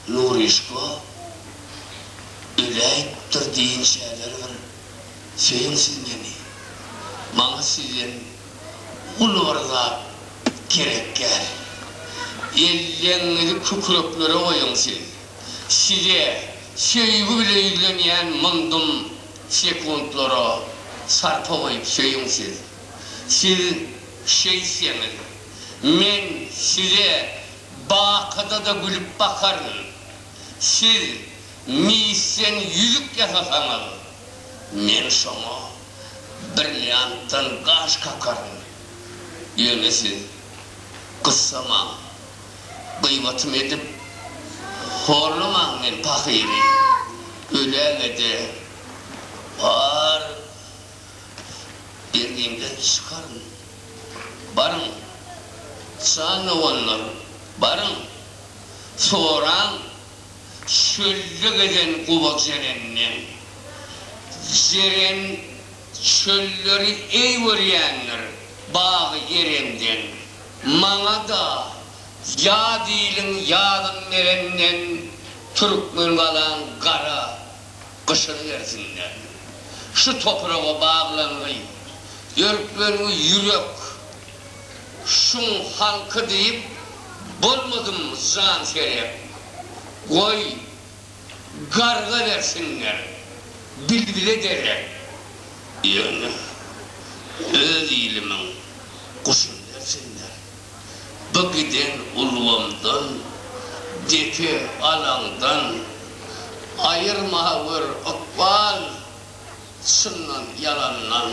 Nuryşko öläýipdir diýen şäler bir sensiň meni. Maňa sizden uly bir zat gerekgäl. Elleňňizi kükreklere goýuň siz. Size söýgi bile ýüzlenýän myndum sekuntlara sarpa goýup söýüň siz. Siz şeýtseňiz, men size Bakyda-da gülüp bakaryn. Siz misden ýüzük ýasasaňyz, men şoňa brilliantdan gaş kakaryn. Ýöne siz gyssamaň, gybatym edip horlamaň men pahyry. Öläge-de, bar Bergiňden çykaryn. Baryň, çagawanlar, baryň, soraň, çölde gezen guba jerenden, jeren çölleri eý görýänler, bagy erenden, maňa-da ýad iliň ýadyn berenden, Türkmengalaň gara gyşyrybersinler. Şu topraga baglangy, dörklengi ýürek şuň halky diýip bolmadym jan serep. Goý, garga bersinler, bilbile derek. Ýöne öz ilimiň guşuny bersinler. Bu giden ulgamdan, depe alaňdan Aýyrma gör ykbal, çyndan ýalandan.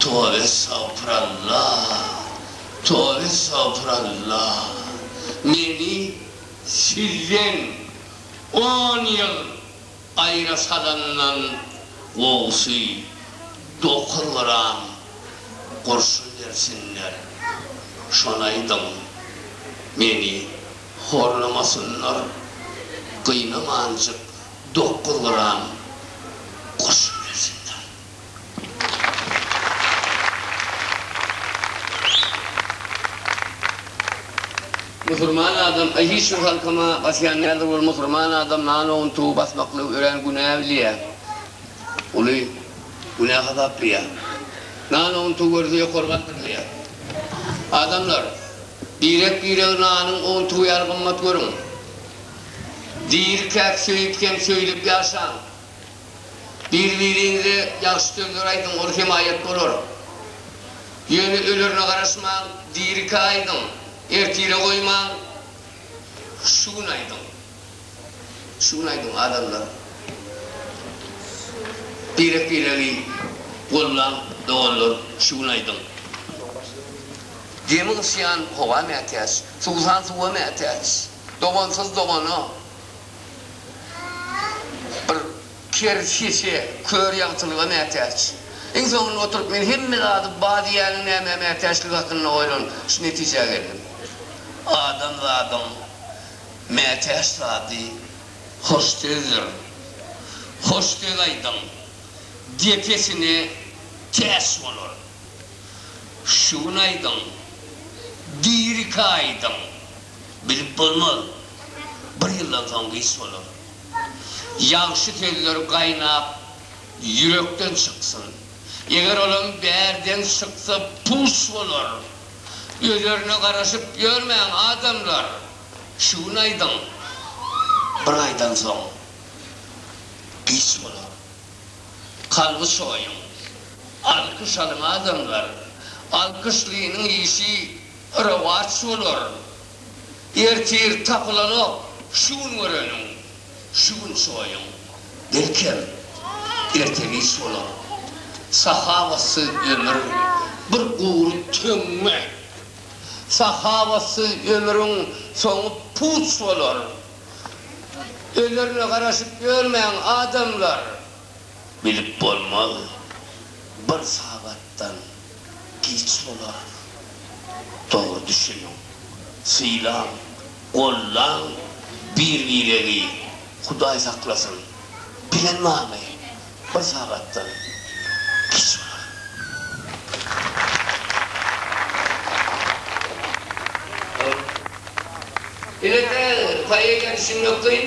Tobeestagpyralla, tobeestagpyralla Meni sizden on ýyl Aýra salandan gowusy dokuz gram gurşun bersinler, şonaýdym, meni horlamasynlar, gynamanjyk dokuz gram gurşun bersinler. Musurman adam aý hiç bir halkama basýan däldir ol musurman adam nan owuntygy basmaklygy örän günä bilýä uly günä hasaplaýa nan owuntygy görse ýokary galdyrylýa adamlar birek biregi nanyň owuntygy ýaly gymmat görüň diri käk söýüp hem söýlüp ýaşaň. Bir-biriňize ýagşy sözler aýdyň, ol hemaýat bolar. Ýöne ölerine garaşmaň, dirikä aýdyň, ertire goýmaň, şu gün aýdyň. Şu gün aýdyň, adamlar. Birek-biregi gollaň, doganlar, şu gün aýdyň. Gemi gysýan howa mätäç, suwsan suwa mätäç. Dogansyz dogana. Bir ker şişe kör ýagtylyga mätäç. Iň soňunda oturyp men hemme zady bar diýýäniň nämä mätäçligi hakynda oýlanyp, şu netijä geldim. Adamzadyň mätäç zady hoş sözdir. Hoş söz aýdyň, depesine täç bolar. Şu gün aýdyň, diri-kä aýdyň. Bilip bolmaz. Bir ýyldan soň giç bolar. Ýagşy sözler gaýnap ýürekden çyksyn. Eger olam bärden çyksa puç bolar. Özerine garaşyp ýörmäň adamlar. Şu gün aýdyň. Bir aýdan soň giç bolar. Kalby çoýuň. Alkyş alyň adamlar. Alkyşlynyň işi. Rowaç bolar. Ertir tapylanok, şu gün göreniň, şu gün çoýuň. Belkem, ertegiç bolar. Sahawatsyz ömür, bir gury töňňe. Sahawatsyz ömrüň soňy puç bolar. Ölerine garaşyp ýörmäň, adamlar! Bilip bolmaz, bir sagatdan giç bolar. Dogry düşüniň, sylaň, gollaň bir-biregi, Hudaý saklasyn, bilen barmy, bir sagatdan giç bolar. Ol Elbetde, poeziýa düşünmek kyn.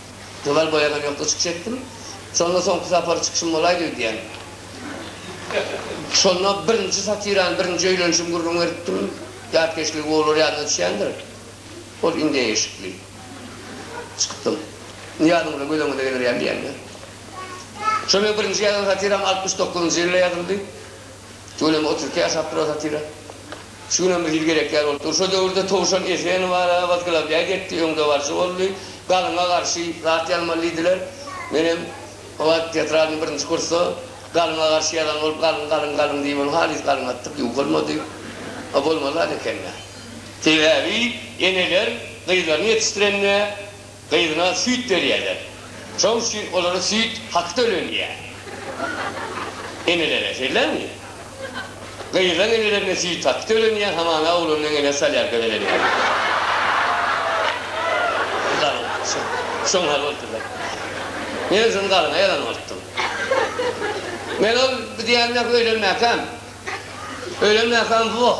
Zymal boýagam ýok, yşk çekdim. Şonda soňky sapar çykyşym bolaýdy öýdýän. Şonda birinji satirany, birinji öýlenişimi gürrüň beripdim. Ýatkeşligi gowylar ýadyna düşýändir. Ol indeý eşikli. Çykypdym. Nyýazyňyza gözeňize geler ýaly diýemde. Şol meniň birinji ýazan satiram altmyş dokuzynjy ýylda ýazyldy. Tüweleme otuz iki ýaşapdyr o satira. Şu günem bir ýyl gerek ýaly bolup dur. Şo döwürde Towşan Esenowa wazglawlýaý etdi, öňdebaryjy boldy. Galyňa garşy zat ýazmaly diýdiler. Menem o wagt tetradyň birinji kursda Galyňa garşy ýazan bolup, galyň, galyň, galyň diýip, ony halys galyň atdyk, ýuwuk bolmady. A bolmaly zat ekeni. Sebäbi eneler gyzlaryny ýetişdirende gyzyna süýt berýärler. Şoň üçin olara süýt haky tölenýär. Enelere şeýlemi? Gyzyň enelerine süýt haky tölenýär, hamana oglanyň eneler salýar gözeleme. Şoň hal bolupdyr-da. Men şony galyňa ýazan bolupdym. Men ol diýýän öýlenmäkäm. Öýlenmäkäm, woh!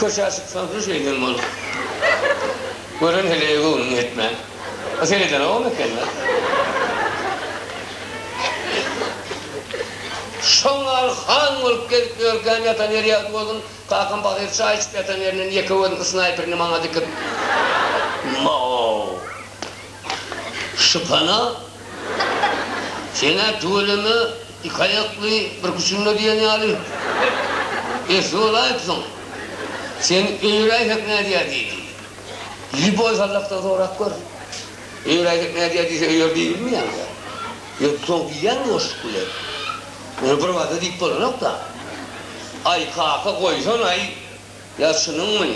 Köşä çyksaň-da şeýdem bolar. Gören heleýe göwnüň ýetmän. A seredenogam eken-dä. Şoňňar han bolup gezip ýörkäm ýatan ýeri ýagty boldum. Kakam pahyr çaý içip ýatan ýerinden ýeke gözüni ysnaýperini maňa dikip. Maw! Şypana! Sen-ä tüweleme! Iki aýakly, bir küçünde diýen ýaly. Esli bolaýypsyň. Sen öýräýsek nädýär diýdi. Lýuboý Hallakdan sorap gör. Öýräýsek nädýär diýse öýer diýbilmeýäň-dä. Ýöne soň diýýäň boşluk bilen. Muny birbada diýip bolanok-da. Aý, kaka, goýsan-aý. Ýa çynyňmy?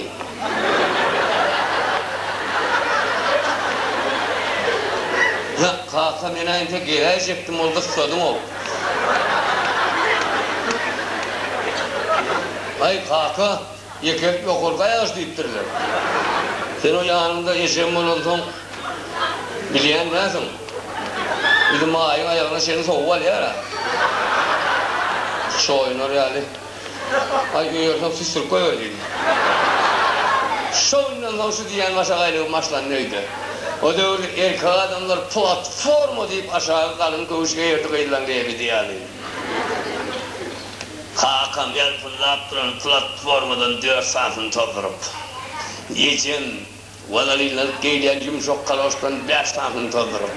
Ýok, kaka, men-ä entek geläýjekdim, ol gyssadyň-ow. Aý, kaka, ýekelik ýokarky aýagyç diýipdirler. Sen o ýanyňda ejem bolansoň, bilýän dälsiň. Bizimaýyň aýagyna çenli sowup alýar-a. Çoýunar ýaly. Aý, öýerseň süsdürip goýber diýdi. Şo günden soň şu diýýän maşagaýlygym başlandy öýde. O döwürde erkek adamlar platforma diýip aşagy galyň köwüş geýerdi gyzlaň geýemidi ýaly. Kakam ýalpyldap duran platformadan dört sanysyny tozduryp, ejem walalinlanyp geýilýän ýumşak kaloşdan bäş sanysyny tozduryp,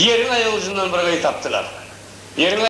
ýeriň aýagujundan bir gyz tapdylar. Ýeriň.